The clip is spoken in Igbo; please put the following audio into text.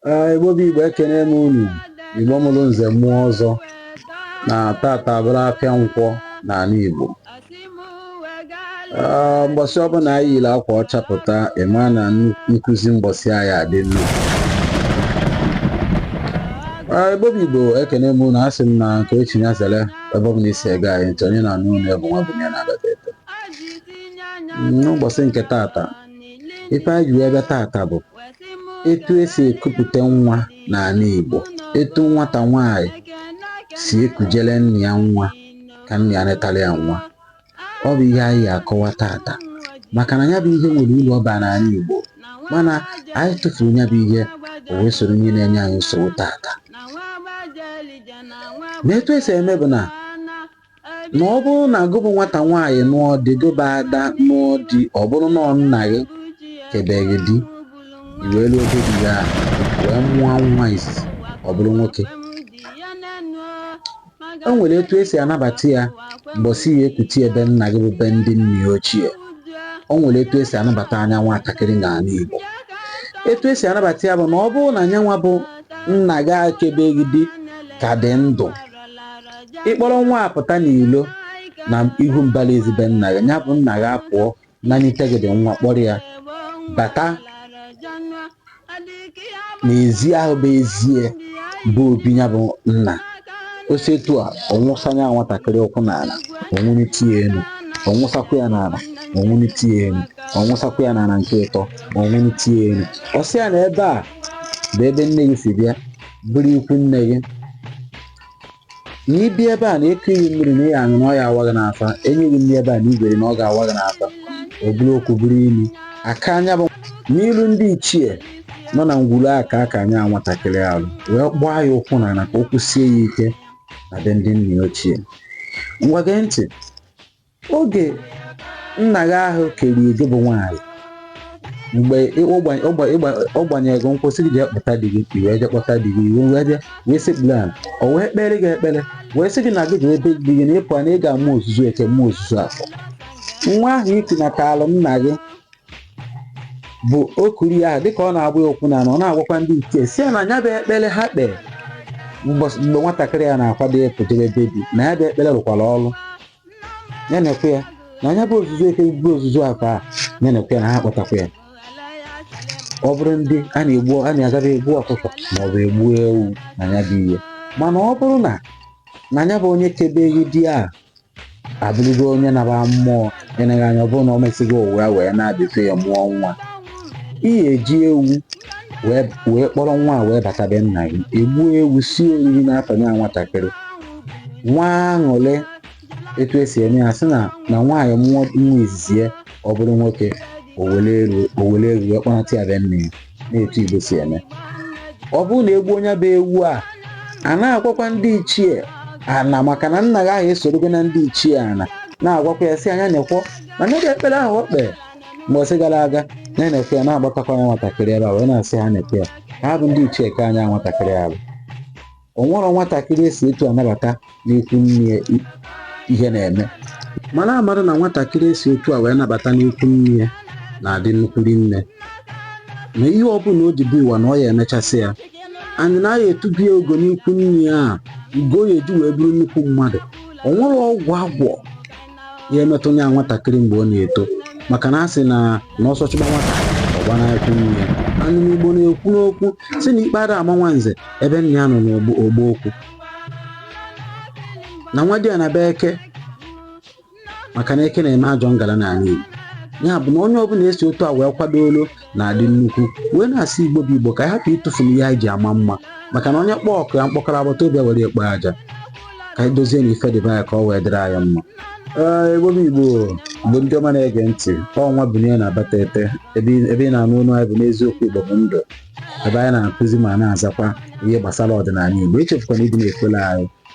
Ee, Igbo bụ Igbo ekene m unu Igbo mụrụ nze mụọ ọzọ na tata abụrụ afịa nkwọ n'ala Igbo Ee, mbọsị ọbụla anyị yiri akwa ọcha pụta ị ma na nnu- nkụzi mbọsị ahụ ya-adị nnu Ee, Igbo bụ Igbo ekene m unu asị m na nke o chi ya zere ebe ọbụla i si ege anyị ntị onye na-anụ onu ebe nwa bụ ya na-abata eto n'ụbọchị nke tata ife anyị ji wee bịa tata bụ etu e si ekupụta nwa n'ala Igbo etu nwata nwaanyị si ekujele nna ya nwa ka nna ya netara ya nwa ọ bụ ihe anyị ya-akọwa tata maka na ya bụ ihe nwere uru ọ bara n'ala Igbo mana anyị tụfuru ya bụ ihe o wee soro ihe na-enye anyị nsogbu tata ma etu e si eme bụ na na ọ bụrụ na gị bụ nwata nwaanyị nụọ di gị bụ ada nụọ di ọ bụrụ na ọ nna gị kebe gị di i wee ruo be di gị ahụ wee mụọ nwa izizi ọ bụrụ nwoke o nwere etu e si anabata ya mbọsị a ya-ekute ya be nna gị bụ be ndị nna ya ochie o nwere etu e si anabata nya nwatakịrị n'ala Igbo etu e si anabata ya bụ na ọ bụrụ na nyanwa bụ nna gị a kebe gị di ka dị ndụ ị kpọrọ nwa apụta n'ilo na ihu mbara ezi be nna gị ya bụ nna gị apụọ nanyite gị dị nwa kpọrọ ya bata n'ezi ahụ bụ ezi ya bụ obi ya bụ nna o si etu a ọ wụsa nya nwatakịrị ụkwụ n'ala o wenite ya elu ọ wụsakwa ya n'ala o wenite ya elu ọ wụsakwa ya n'ala nke ịtọ o wenite ya elu ọ sị ya na ebe a bụ ebe nne gị si bịa bụrụ ikwu nne gị na ị bịa ebe a na e kuo gị mmiri na ị ya-aṅụ na ọ ya-awa gị n'afọ e nye gị nri ebe a na ị ga-eri na ọ ga-awa gị n'afọ ọ bụrụ okwu bụrụ imi aka anya bụ n'ilu ndị ichie nọ na ngwuru aka aka nya nwatakịrị ahụ wee gbaa ya ụkwụ na ala ka o kwụsie ya ike na be ndị nna ya ochie ngwa gee ntị oge nna gị ahụ kere gị bụ nwaanyị mgbe ị- ọ gbanye- ọ gba- ị gba- ọ gbanyere gị nkwụ sị gị jee kpọta di gị i wee jee kpọta di gị i wee bịa wee sekpuru ala o wee kpere gị ekpere wee sị gị na gị jee be di gị na ị pụọ na ị ga-amụ ozuzu eke mụ ozuzu afọ nwa ahụ i kunatalụ nna gị bụ okuri ahụ dịka ọ na-agba ya ụkwụ n'ala ọ na-agwakwa ndị ichie sị ha na ya bụ ekpere ha kpere mbọs- mgbe nwatakịrị a na-akwado ịpụ jebe be di na ya bụ ekpere rụkwara ọrụ ya na-ekwe ya na anya bụ ozuzu eke bụ ozuzu akwa a ya na-ekwe ya na ha kpọtakwa ya ọ bụrụ ndị a na-egbu a na-agaba egbu ọkụkọ ma ọ bụ egbu ewu na ya bụ ihe mana ọ bụrụ na na ya bụ onye kebeghị di a abụrụgo onye naba mmụọ eneghị anya ọ bụrụ na ọ mesịghị ụwa ya wee na-abịafe ya mụọ nwa ihe eji ewu wee wee kpọrọ nwa a wee bata be nna gị egbuo ewu sie oriri n'afọ ya nwatakịrị nwa aṅụrị etu esi eme ya sị na na nwaanyị mụọ nwa izizi ya ọ bụrụ nwoke e were ewu e were ewu wee kpọnata ya be nne ya n'etu igbo si eme ọ bụrụ na egbuo ya bụ ewu a a na-agwakwa ndị ichie ana maka na nna gị ahụ esorogo na ndị ichie ana na-agwakwa ya sị anya na-ekwọ na n'ebe ekpere ahụ o kpere mgbe o ji gara aga na na-ekwe ya na-agbatakwa ya nwatakịrị ebe a wee na-asị ha na-ekwe ya ha bụ ndị ichie ka anya nwatakịrị ahụ o nwerọ nwatakịrị esi otu a nabata n'ikwu nne ya i- ihe na-eme mara amara na nwatakịrị esi otu a wee nabata n'ikwu nne ya na-adị nnukwu nne na ihe ọbụla o ji bịa ụwa na ọ ya-emechasị ya anyị na ya etube ya ugo n'ikwu nne ya a ugo ọ ya-eji wee bụrụ nnukwu mmadụ o nwerọ ọgwụ agwọ ya emetụ ya nwatakịrị mgbe ọ na-eto maka na a sị na na ọsọ chụba nwata ọ gbanaa ikwu nne ya anụ n'igbo na-ekwu n'okwu sị na ikpe ada ama nwa nze ebe nna ya nọ n'ọgbọ okwu na nwadịana bụ eke maka na eke na-eme ajọ ngala n'ana idemili ya bụ na onye ọbụla esi otu a wee kwadoolu na-adị nnukwu wee na-asị igbo bụ igbo ka anyị hapụ ịtụfu ihe anyị ji ama mma maka na onye kpọọ ọkụ ya mkpọkọrọ agbata obi ewere ya kpoo aja ka anyị dozienụ ife dị be anyị ka ọ wee dịrị anyị mma ee igbo bụ igbo bụ ndị ọma na-ege ntị ọnwa bụ ihe na-abata ete ebe ị- ebe ị na-anụ olu anyị bụ n'eziokwu igbo bụ ndụ ebe anyị na-akụzi ma na-azakwa ihe gbasara ọdịnala igbo echefukwana ịdị na-ekwela anyị